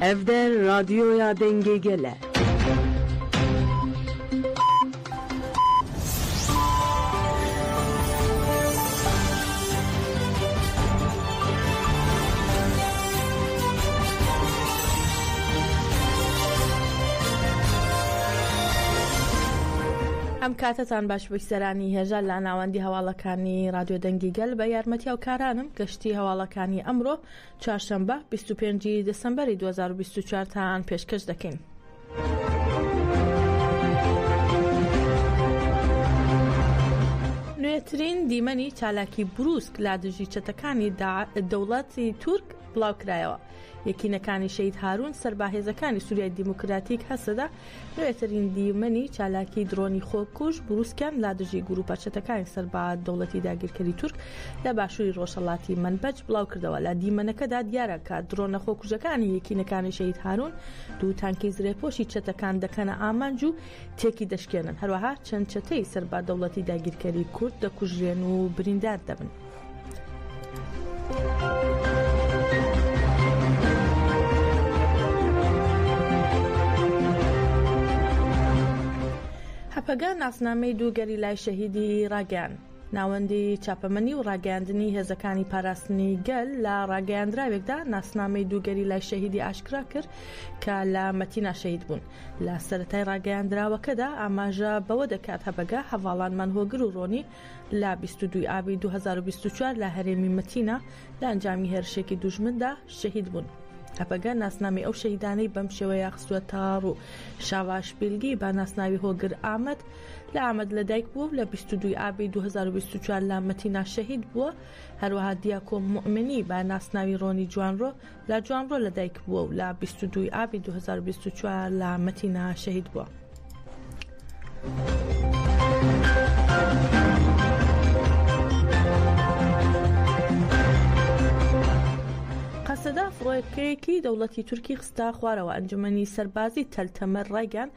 ئەڤ دە رادیۆیا دەنگێ گە لە. ئەم کاتەتان باش بووی سەرانی هێژا لە ناوەندی هەواڵەکانی رادیۆ دەنگی گەل بە یارمەتیاو کارانم گەشتی هەواڵەکانی ئەمڕۆ چوارشەممە بیست و پێنج ی دەسەمبەری دوو هەزار و بیست و چوار تا ئان پێشکەش دەکەین. نوێترین دیمەنی چالاکی بروسک لا دژی چەتەکانی دەوڵەتی تورک بڵاوکرایەوە یەکینەکانی شەید هاروون سەرباهێزەکانی سووریای دیموکراتیک هەسەدە نوێترین دیمەنی چالاکی درۆنی خۆکوژ بروسکیان لا دژی گروپە چەتەکانی سەر بە دەوڵەتی داگیرکەری تورک لە باشووری ڕۆژهەڵاتی مەنبەج بڵاوکردەوە لە دیمەنەکەدا دیارە کە درۆنە خۆکوژەکانی یەکینەکانی شەهید هارون دوو تانکی زرێپۆشی چەتەکان دەکەنە ئامانج و تێکی دەشکێنن هەروەها چەند چەتەی سەر بە دەوڵەتی داگیرکەری کورد دەکوژرێن و بریندار دەبن. هەپەگە ناسنامەی دوو گەریلای شەهیدی ڕاگەیان ناوەندی چاپەمەنی و ڕاگەاندنی هێزەکانی پاراستنی گەل لە ڕاگەیاندراوێکدا ناسنامەی دووگەری لای شەهیدی ئاشکرا کرد کە لە مەتینا شەید بوون لە سەتای ڕاگەیاندراوەکەدا ئاماژە بەوە دەکات هەبەگە هەواڵانمان هۆگر و ڕۆنی لە بیست و دوو ی ئابی دوو هەزار و بیست و چوار لە هەرێمی مەتینا لە ئەنجامی هێرشێکی دوژمندا شەهید بوون. هەپەگە ناسنامەی ئەو شەهیدانەی بەم شێوەیە خستووەتە ڕوو. شاواش بیلگی بە ناسناوی هۆگر ئامەد لە ئامەد لەدایک بووە و لە بیست و دوو ی ئابی دوو هەزار و بیست و چوار لە مەتینا شەهید بووە، هەروەها دیاکۆ موئمنی بە ناسناوی ڕۆنی جوانڕۆ لە جوانڕۆ لەدایکبووە و لە بیست و دووی ئابی دوو هەزار و بیست و چوار لە مەتینا شەهید بووە. قەسەدە فڕۆکەیەکی دەوڵەتی تورکی خستە خوارەوە ئەنجومەنی سەربازی تەل تەمەر ڕایگەیاند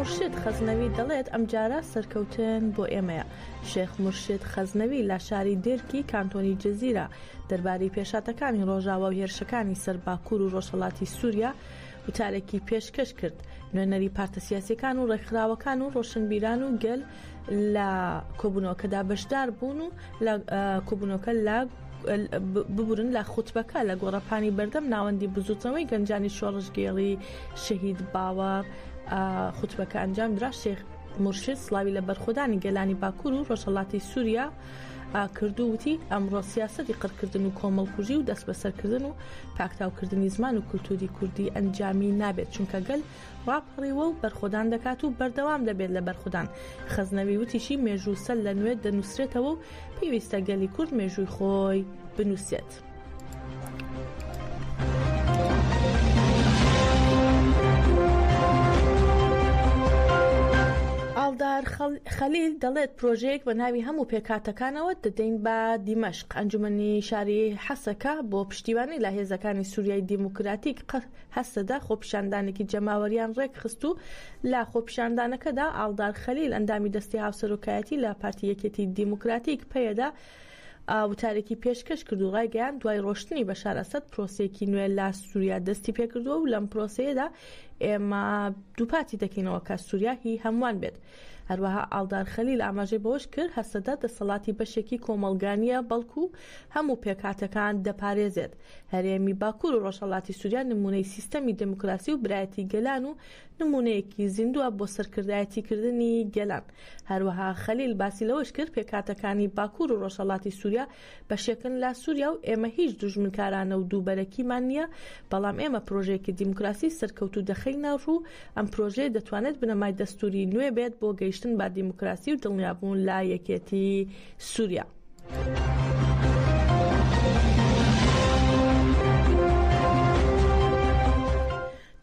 مرشد خەزنەوی دەڵێت ئەمجارە سەرکەوتن بۆ ئێمەیە شێخ مرشد خەزنەوی لە شاری دێرکی کانتۆنی جززیرە دەربارەی پێشاتەکانی ڕۆژاوا و هێرشەکانی سەر باکوور و ڕۆژهڵاتی سووریا وتارێکی پێشکەش کرد نوێنەری پارتە سیاسەکان و ڕێکخراوەکان و ڕۆشنبیران و گەل لە کۆبوونەوەکەدا بەشدار بوون و لە کۆبوونەوەکە لە ببورن لە خوتبەکە لە گۆڕەپانی بەردەم ناوەندی بزوتنەوەی گەنجانی شۆڕشگێڵی شەهید باوە خوتبەکە ئەنجام درا شێخ مرشد سلاوی لە بەرخۆدانی گەلانی باکوور و ڕۆژهڵاتی سووریا کردو وتی ئەمڕۆ سیاستی قڕکردن و کۆمەڵکوژی و دەست بەسەرکردن و پاکتاوکردنی زمان و کولتوری کوردی ئەنجامی نابێت چونکە گەل ڕاپەڕیوە و بەرخۆدان دەکات و بەردەوام دەبێت لە بەرخودان. خەزنەوی وتیشی، مێژوو سەر لە نوێ دەنووسرێتەوە و پێویستە گەلی کورد مێژووی خۆی بنووسێت. ئاڵدار خەلیل دەڵێت، پرۆژەیەک بە ناوی هەموو پێکهاتەکانەوە دەدەین بە دیمەشق، ئەنجومەنی شاری حەسەکە بۆ پشتیوانی لە هێزەکانی سوریای دیموکراتیک هەسەدە خۆپیشاندانێکی جەماوەریان ڕێکخست و لە خۆپیشاندانەکەدا ئاڵدار خەلیل ئەندامی دەستی هاوسەرۆکایەتی لە پارتی یەکێتی دیموکراتیک پەیەدە وتارێکی پێشکەش کرد و ڕایگەیان دوای ڕۆشتنی بەشار ئەسەد پرۆسەیەکی نوێ لە سووریا دەستی پێکردووە و لەم پرۆسەیەدا ئێمە دووپاتی دەکەینەوە کە سووریا هی هەمووان بێت هەروەها ئاڵدار خەلیل ئاماژەی بەوەش کرد هەسەدە دەسەڵاتی بەشێکی کۆمەڵگانیە بەڵکو هەموو پێکاتەکان دەپارێزێت هەرێمی باکور و ڕۆژهەڵاتی سوریا نمونەی سیستەمی دێموکراسی و برایەتی گەلان و نمونەیەکی زیندووە بۆ سەرکردایەتی کردنی گەلان. هەروەها خەلیل باسی لەوەش کرد، پێکهاتەکانی باکور و ڕۆژهەڵاتی سوریا بەشێکن لە سوریا و ئێمە هیچ دوژمنکارانە و دووبەرەکیمان نییە، بەڵام ئێمە پرۆژەیەکی دیموکراسی سەرکەوتوو دەخەینە ڕوو، ئەم پرۆژەیە دەتوانێت بنەمای دەستوری نوێ بێت بۆ گەیشتن بە دیموکراسی و دڵنیابوون لە یەکێتی سوریا.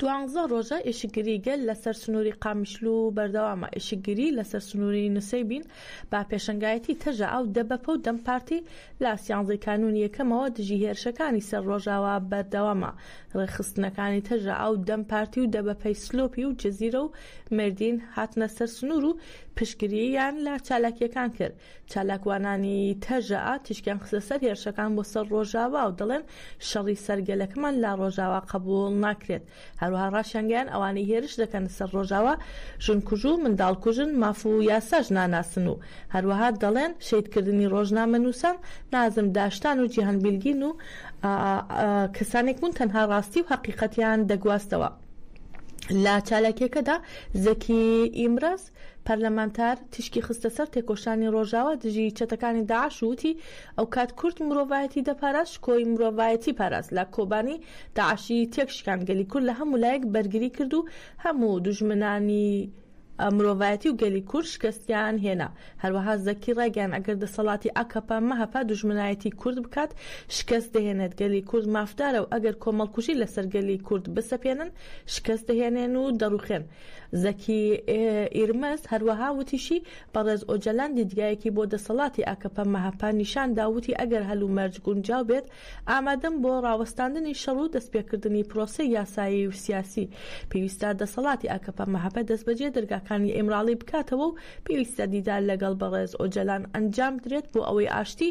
دوانزە ڕۆژە ئیشگری گەل لەسەر سنووری قامیشلو و بەردەوامە ئیشگری لەسەر سنووری نووسەی بین با پێشنگایەتی تەژە ئەو دەبەپە و دەم پارتی لە سیانزەی کانون یەکەمەوە دژی هێرشەکانی سەر ڕۆژاوا بەردەوامە ڕێخستنەکانی تەژە ئەو دەم پارتی و دەبەپەی سلۆپی و جززیرە و مردین هاتنە سەر سنوور و پشگریان لە چالاکیەکان کرد چالاکوانانی تەژەئا تیشکیان خستە سەر هێرشەکان بۆ سەر ڕۆژاوا و دەڵێن، شەڕی سەر گەلەکەمان لە ڕۆژاوا قەبووڵ ناکرێت. هەروەها ڕاشیانگەیاند، ئەوانەی هێرش دەکەنە سەر ڕۆژاوا ژنکوژ و منداڵکوژن، ماف و یاساش ناناسن و هەروەها دەڵێن، شەهیدکردنی ڕۆژنامەنووسان، نازم داشتان و جیهان بیلگین و کەسانێک بوون تەنها ڕاستی و هەقیقەتیان دەگواستەوە. لە چالاکییەکەدا زەکی ئیمرەز، پەرلەمانتار تیشکی خستە سەر تێکۆشانی ڕۆژاوا دژی چەتەکانی داعش و وتی، ئەوکات کورد مرۆڤایەتی دەپاراست شکۆی مرۆڤایەتی پاراست لە کۆبانی داعشی تێکشکاند گەلی کورد لە هەموو لایەک بەرگری کرد و هەموو دوژمنانی مرۆڤایەتی و گەلی کورد شکستیان هێنا. هەروەها زەکی ڕایگەیاند ئەگەر دەسەڵاتی ئاکەپە، مەهەپە دوژمنایەتی کورد بکات شکست دەهێنێت، گەلی کورد مافدارە و ئەگەر کۆمەڵکوژی لەسەر گەلی کورد بسەپێنن شکست دەهێنێن و دەڕوخێن. زەکی ئیرمز هەروەها وتیشی، بەڕێز ئۆجەلان دیدگایەکی بۆ دەسەڵاتی ئاکەپە-مەهەپە نیشاندا و وتی، ئەگەر هەلومەرج گونجاو بێت، ئامادەم بۆ راوەستاندنی شەڕ و دەستپێکردنی پرۆسەی یاسایی و سیاسی. پێویستە دەسەڵاتی ئاکەپە-مەهەپە دەستبەجێ دەرگاکانی ئیمراڵی بکاتەوە و پێویستە دیدار لەگەڵ بەڕێز ئۆجەلان ئەنجامبدرێت بۆ ئەوەی ئاشتی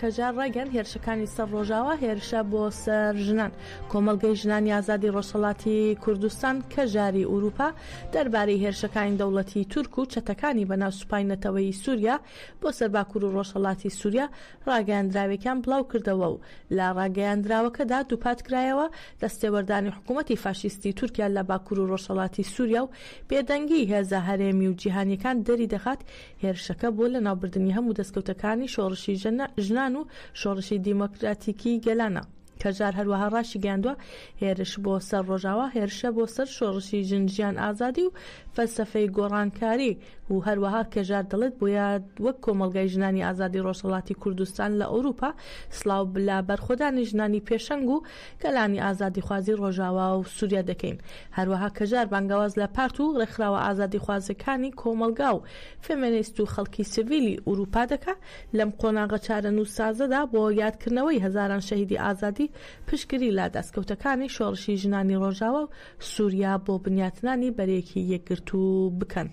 کەجار ڕایگەیاند هێرشەکانی سەر ڕۆژاوا هێرشە بۆ سەر ژنان. کۆمەڵگەی ژنانی ئازادی ڕۆژهەڵاتی کوردستان، کەژاری ئورووپا، دەربارەی هێرشەکانی دەوڵەتی تورک و چەتەکانی بەناو سوپای نەتەوەیی سووریا بۆ سەر باکوور و ڕۆژهەڵاتی سووریا ڕاگەیاندراوێکیان بڵاو کردەوە و لە ڕاگەیاندراوەکەدا دووپات کرایەوە دەستێوەردانی حکوومەتی فاشیستی تورکیا لە باکوور و ڕۆژهەڵاتی سووریا و بێدەنگیی هێزە هەرێمی و جیهانییەکان دەری دەخات هێرشەکە بۆ لەناوبردنی هەموو دەستکەوتەکانی شۆڕشی ژنان و شۆڕشی دیمۆکراتیکی گەلانە. کەژار هەروەها ڕاشیگەیاندووە، هێرش بۆ سەر ڕۆژاوا هێرشە بۆ سەر شۆڕشی ژن ژیان ئازادی و فەلسەفەی گۆڕانکاری و هەروەها کەژار دەڵێت بۆیە وەک کۆمەڵگای ژنانی ئازادی ڕۆژهەڵاتی کوردستان لە ئەوروپا سڵاو لە بەرخۆدانی ژنانی پێشەنگ و گەلانی ئازادیخوازی ڕۆژاوا و سوریا دەکەین، هەروەها کەژار بانگەواز لە پارت و ڕێکخراوە ئازادیخوازەکانی کۆمەڵگا و فێمێنیست و خەڵکی سڤیلی ئورووپا دەکا لەم قۆناغە چارەنووسسازەدا بۆ یادکردنەوەی هەزاران شەهیدی ئازادی پشتگری لە دەستکەوتەکانی شۆڕشی ژنانی ڕۆژاوا و سوریا بۆ بنیاتنانی بەرەیەکی یەکگرتوو بکەن.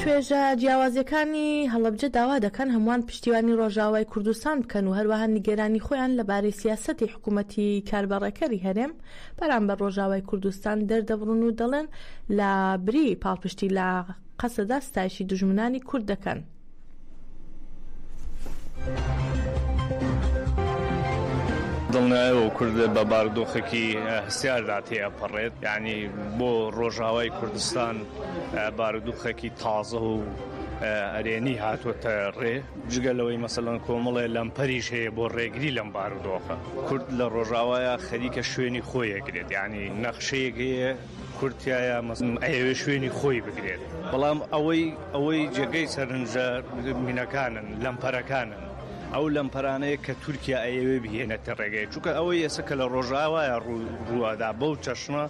توێژە جیاوازەکانی هەڵەبجە داوا دەکەن هەمووان پشتیوانی ڕۆژاوای کوردستان بکەن و هەروەها نیگەرانی خۆیان لەبارەی سیاسەتی حکوومەتی کاربەڕێکەری هەرێم بەرامبەر ڕۆژاوای کوردستان دەردەبڕن و دەڵێن لە بری پاڵپشتی لە قەسەدە ستایشی دوژمنانی کورد دەکەن. دڵنیایەوە کورد بە باردۆخێکی هەستیاردا تێپەڕێت یعنی بۆ ڕۆژاوای کوردستان بارودوخێکی تازە و ئەرێنی هاتووەتە ڕێ جگە لەوەی مەسەلەن کۆمەڵێ لەمپەریش هەیە بۆ ڕێگری لەم بارودۆخە کورد لە ڕۆژاوایە خەریکە شوێنی خۆیەگرێت یعنی نەخشەیەک هەیە کورد تیایا ئەیەوێ شوێنی خۆی بگرێت بەڵام ئەوەی ئەوەی جێگەی سەرنجە مینەکانن لەمپەرەکانن ئەو لەمپەرانەیە کە تورکیا ئەیەوێ بهێنێتە ڕێگەی چووکە ئەوەی ئێستا کە لە ڕۆژاوایە ڕووادا بەو چەشنە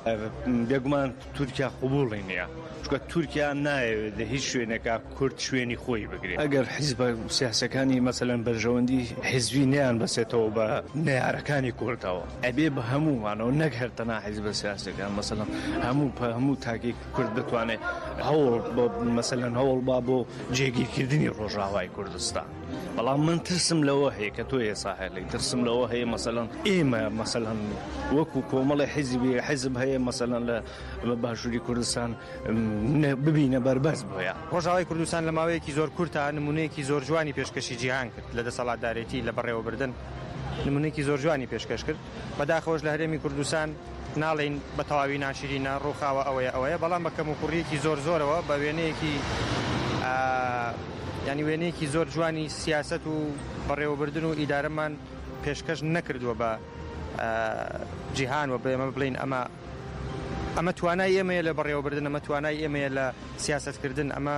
بێگومان تورکیا قوبوڵی نییە چکە تورکیا نایەوێت لە هیچ شوێنێکا کورد شوێنی خۆی بگرێ. ئەگەر حیزبە سیاسیەکانی مەسەلەن بەرژەوەندی حیزبی نەیان بەسێتەوە بە نەیارەکانی کوردەوە ئەبێ بە هەموومانەوە نەک هەر تەنها حیزبە سیاسیەکان مەسەلەن هەموو پە هەموو تاکێک کورد بتوانێ هەوڵ بۆ مەسەلەن هەوڵ با بۆ جێگیرکردنی ڕۆژاوای کوردستان. بەڵام من ترسم لەوە هەیە کە تۆ ئێسا هەلی ترسم لەوە هەیە مەسەلەن ئێمە مەسەلەن وەکو کۆمەڵی حیزبی حیزب هەیە مەسەلەن لە بە باشووری کوردستان ببینە بەربەس بۆیە ڕۆژاوای کوردستان لە ماوەیەکی زۆر کورتا نمونەیەکی زۆر جوانی پێشکەشی جیهان کرد لە دەسەڵاتدارێتی لە بەڕێوەبردن نمونێکی زۆر جوانی پێشکەش کرد بەداخەوەش لە هەرێمی کوردستان ناڵین بە تەواوی ناشرینە ڕووخاوە ئەوەیە ئەوەیە بەڵام بە کەم و کوڕیەکی زۆر زۆرەوە بە وێنەیەکی ینی وێنەیەکی زۆر جوانی سیاست و بەڕێوەبردن و ئیدارەمان پێشکەش نەکردووە بە جیهان و بێمە بڵین ئەمە ئەمە توانای ئێمەیە لە بەڕێوەبردن، ئەمە توانای ئێمەیە لە سیاسەتکردن، ئەمە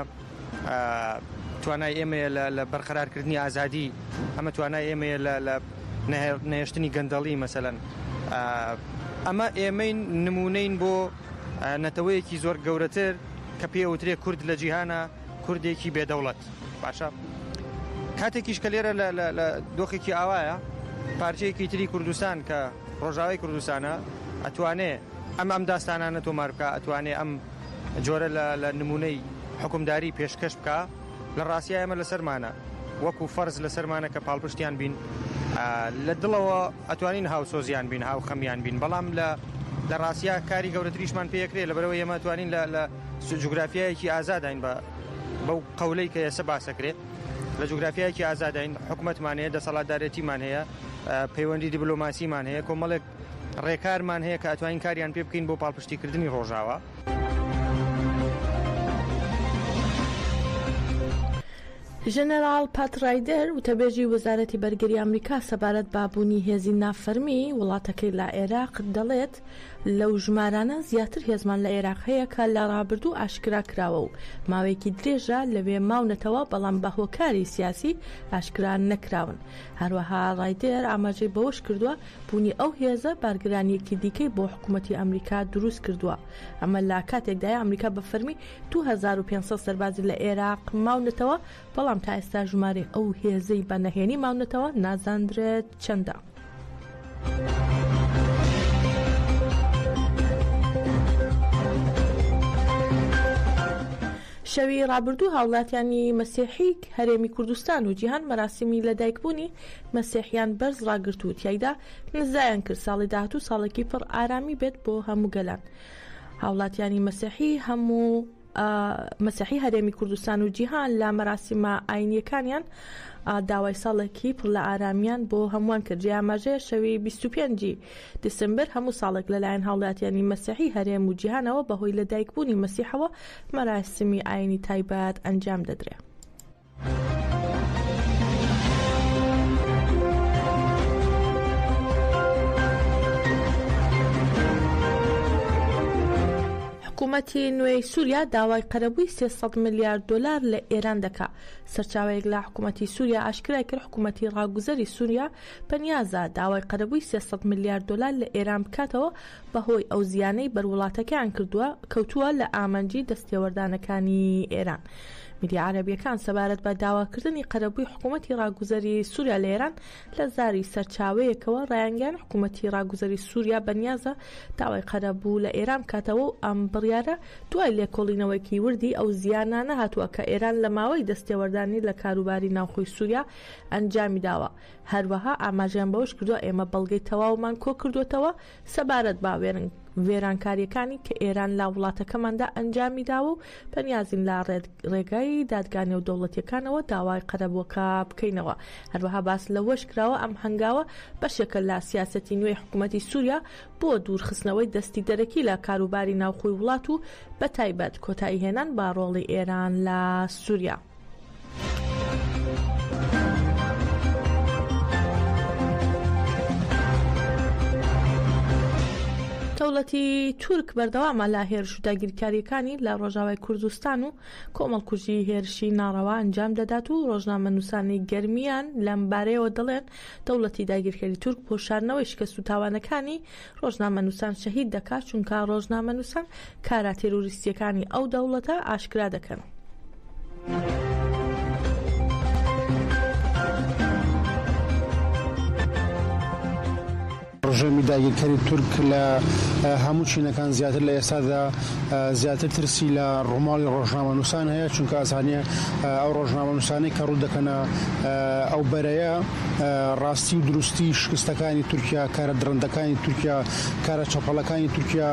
توانای ئێمەیە لە بەرقەرارکردنی ئازادی، ئەمە توانای ئێمەیە لە نەهێشتنی گەندەڵی مەسەلەن ئەمە ئێمەین نمونەین بۆ نەتەوەیەکی زۆر گەورەتر کە پێوترێ کورد لە جیهانە کوردێکی بێدەوڵەت. باشە کاتێکیش کە لێرە لە دۆخێکی ئاوایە پارچەیەکی تری کوردستان کە ڕۆژاوی کوردستانە ئەتوانێ ئەم ئەم داستانانە تۆمار بکە ئەتوانێ ئەم جۆرە لە نمونەی حکومداری پێشکەش بکە لە ڕاستە ئەمە لەسەرمانە وەکو فەرز لەسەرمانە کە پاڵپشتیان بین لە دڵەوە ئەتوانین هاوسۆزیان بین هاو خەمیان بین بەڵام لە لە ڕاستە کاری گەورەتریشمان پێکرێ لە بەرەوە ئێمە توانین لە جوگرافیایەکی ئازادین بە بەو قەولەی کە ئێسە باسەکرێ لە جوگرافیایەکی ئازادین حکوومەتمان هەیە دەسەڵاتدارێتیمان هەیە پەیوەندی دیبلۆماسیمان هەیە کۆمەڵێک ڕێکارمان هەیە کە ئەتوانین کاریان پێ بکەین بۆ پاڵپشتیکردنی ڕۆژاوە. ژەنەراڵ پات ڕایدەر وتەبێژی وەزارەتی بەرگری ئەمریکا سەبارەت بە بوونی هێزی نافەرمی وڵاتەکەی لە عێراق دەڵێت، دەکات. لەو ژمارانە زیاتر هێزمان لە ئێراق هەیە کە لە ڕابردوو ئاشکرا کراوە و ماوەیەکی درێژە لەوێ ماونەتەوە بەڵام بە هۆکاری سیاسی ئاشکرا نەکراون. هەروەها ڕایدێر ئاماژەی بەوەش کردووە، بوونی ئەو هێزە بارگرانییەکی دیکەی بۆ حکوومەتی ئەمریکا دروست کردووە. ئەمە لە کاتێکدایە ئەمریکا بە فەرمی دوو هەزار و پێنج سەد سەربازی لە ئێراق ماونەتەوە بەڵام تا ئێستا ژمارەی ئەو هێزەی بە نەهێنی ماونەتەوە نازاندرێت. چەندە؟ شەوی ڕابردوو هاوڵاتیانی مەسیحیک هەرێمی کوردستان و جیهان مەراسیمی لە دایکبوونی مەسیحیان بەرز ڕاگررت و تایدا نزایان کرد ساڵی داهات و ساڵێکی پڕ ئارامی بێت بۆ هەموو گەلان هاوڵاتیانی مەسیحی هەموو مەسیحی هەرێمی کوردستان و جیهان لە مەراسیمە ئاینیەکانیان داوای ساڵێکی پڕ لە ئارامیان بۆ هەمووان کرد جێ ئاماژەیە شەوی 25 دیسمبر هەموو ساڵێک لەلایەن هاوڵاتیانی مەسیحی هەرێم و جیهانەوە بەهۆی لەدایکبوونی مەسیحەوە مەراسیمی ئاینی تایبەت ئەنجام دەدرێ. حکومەتی نوێی سووریا داوای قەرەبووی 300 ملیار دلار لە ئێران دەکا سەرچاوەیەک لە حکوومەتی سووریا ئاشکرای کرد حکوومەتی ڕاگوزەری سووریا پەنیازە داوای قەرەبووی 300 ملیار دلار لە ئێران بکاتەوە بەهۆی ئەو زیانەی بەر وڵاتەکەیان کردووە، کەوتووە لە ئامانجی دەستتێوەردانەکانی ئێران. میدیا عەرەبییەکان سەبارەت بە داواکردنی قەرەبووی حکوومەتی ڕاگوزەری سووریا لە ئێران، لە زاری سەرچاوەیەکەوە ڕایانگەیاند حکوومەتی ڕاگوزەری سووریا بەنیازە داوای قەرەبوو لە ئێران بکاتەوە و ئەم بڕیارە دوای لێکۆڵینەوەیەکی وردی ئەو زیانانە هاتووە کە ئێران لە ماوەی دەستتێوەردانی لە کاروباری ناوخۆی سووریا ئەنجامی داوە هەروەها ئاماژەیان بەوەش کردووە، ئێمە بەڵگەی تەواومان کۆکردووەتەوە سەبارەت بە وێرانکارییەکانی کە ئێران لە وڵاتەکەماندا ئەنجامیداوە و پەنیازین لە ڕێگای دادگا نێودەوڵەتییەکانەوە داوای قەرەبووەکە بکەینەوە. هەروەها باس لەوەشکراوە، ئەم هەنگاوە بەشێکە لە سیاسەتی نوێی حکومەتی سووریا بۆ دوورخستنەوەی دەستی دەرەکی لە کاروباری ناوخۆی وڵات و بەتایبەت کۆتاییهێنان بە ڕۆڵی ئێران لە سووریا. دەوڵەتی تورک بەردەوامە لە هێرش و داگیرکاریەکانی لە ڕۆژاوای کوردستان و کۆمەڵکوژی هێرشی ناڕەوا ئەنجام دەدات و ڕۆژنامە نووسانی گەرمیان لەم بارەیەوە دەڵێن دەوڵەتی داگیرکەری تورک پۆشارنەوەی شکست و تاوانەکانی ڕۆژنامەنووسان شەهید دەکات، چونکە ڕۆژنامەنووسان کارە تێرۆریستییەکانی ئەو دەوڵەتە ئاشکرا دەکەن. ڕژێمی داگیرکەری تورک لە هەموو چینەکان زیاتر لە ئێستادا زیاتر ترسی لە ڕووماڵی ڕۆژنامەنووسان هەیە، چونکە ئەزانێ ئەو ڕۆژنامەنووسانەی کە ڕوو دەکەنە ئەو بەرەیە، ڕاستی و دروستی شکستەکانی تورکیا کارە دڕندەکانی تورکیا کارە چەپەڵەکانی تورکیا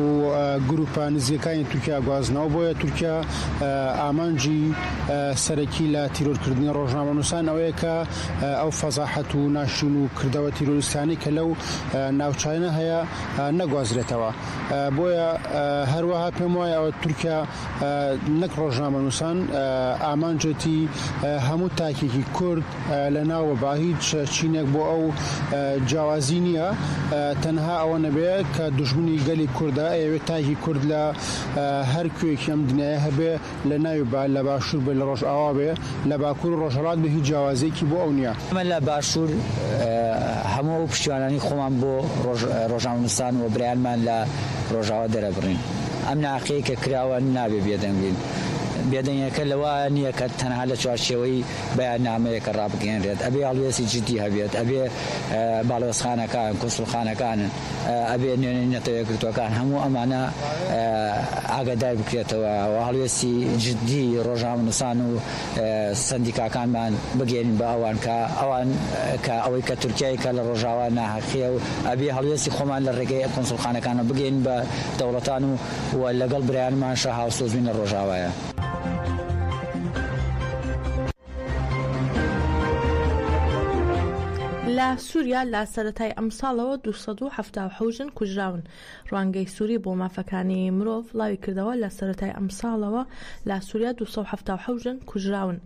و گروپە نزیەکانی تورکیا گوازنەوە بۆیە تورکیا ئامانجی سەرەکی لە تیرۆرکردنی ڕۆژنامەنووسان ئەوەیە کە ئەو فەزاحەت و ناشرین و کردەوە تیرۆریستانەی کە لەو ناوچانە هەیە نەگوازرێتەوە بۆیە هەروەها پێم وایە ئەوە تورکیا نەک ڕۆژنامەنووسان ئامانجێتی هەموو تاکێکی کورد لە ناوە با هیچ چینێک بۆ ئەو جیاوازی نییە تەنها ئەوە نەبێ کە دژمنی گەلی کوردە ئەوێت تاکی کورد لە هەر کوێکی ئەم دنیاە هەبێ لە ناوی با لە باشوور بێ لە ڕۆژ ئاوا بێ لە باکوور و ڕۆژهڵات بە هیچ جیاوازێکی بۆ ئەو نییە ئەمە لە باشوور هەموو ئەو پشتیوانانی خۆمان بۆ ڕۆژنامەنووسان و برایانمان لە ڕۆژاوا دەرەبڕین. ئەم ناحەقیەی کە کراوە نابێ بێدەنگ بین، بێدەنگیەکە لەوە نیە کە تەنها لە چوارچێوەی بەیاننامەیەکە ڕابگەیەنرێت، ئەبێ هەڵوێستی جدی هەبێت، ئەبێ باڵیۆزخانەکان، کونسوڵخانەکان، ئەبێ نوێنەری نەتەوە یەکگرتووەکان هەموو ئەمانە ئاگادار بکرێتەوە و هەڵوێستی جدی ڕۆژنامەنووسان و سەندیکاکانمان بگەیەنین بە ئەوان کە ئەوان کە ئەوەی کە تورکیای کە لە ڕۆژاوا ناهەقیە و ئەبێ هەڵوێستی خۆمان لە ڕێگەی کونسڵخانەکانەوە بگەین بە دەوڵەتان و و لەگەڵ برایانمانشە هاوسۆزبین لە ڕۆژاوایە. لە سوریا لە سەرەتای ئەمساڵەوە دوو سەد و حەفتا و حەوت ژن کوژراون، ڕوانگەی سوری بۆ مافەکانی مرۆڤ بڵاویکردەوە، لە سەرەتای ئەمساڵەوە لە سوریا دوو سەد و حەفتا و حەوت ژن کوژراون.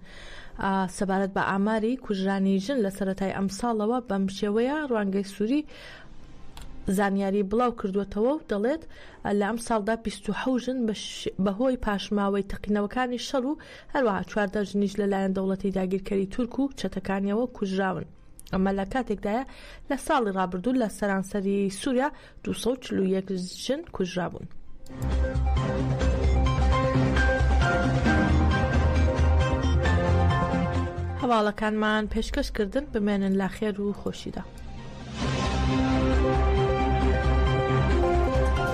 سەبارەت بە ئاماری کوژرانی ژن لە سەرەتای ئەمساڵەوە بەمشێوەیە، ڕوانگەی سوری زانیاری بڵاوکردووەتەوە و دەڵێت، لە ئەمساڵدا بیست و حەوت ژن بەهۆی پاشماوەی تەقینەوەکانی شەڕ و هەروەها چواردە ژنیش لەلایەن دەوڵەتی داگیرکەری تورک و چەتەکانییەوە کوژراون. ئەمە لە کاتێکدایە لە ساڵی ڕابردوو لە سەرانسەری سووریا 241 ژن کوژرابوون. هەواڵەکانمان پێشکەش کردن بمێنن لە خێر و خۆشیدا.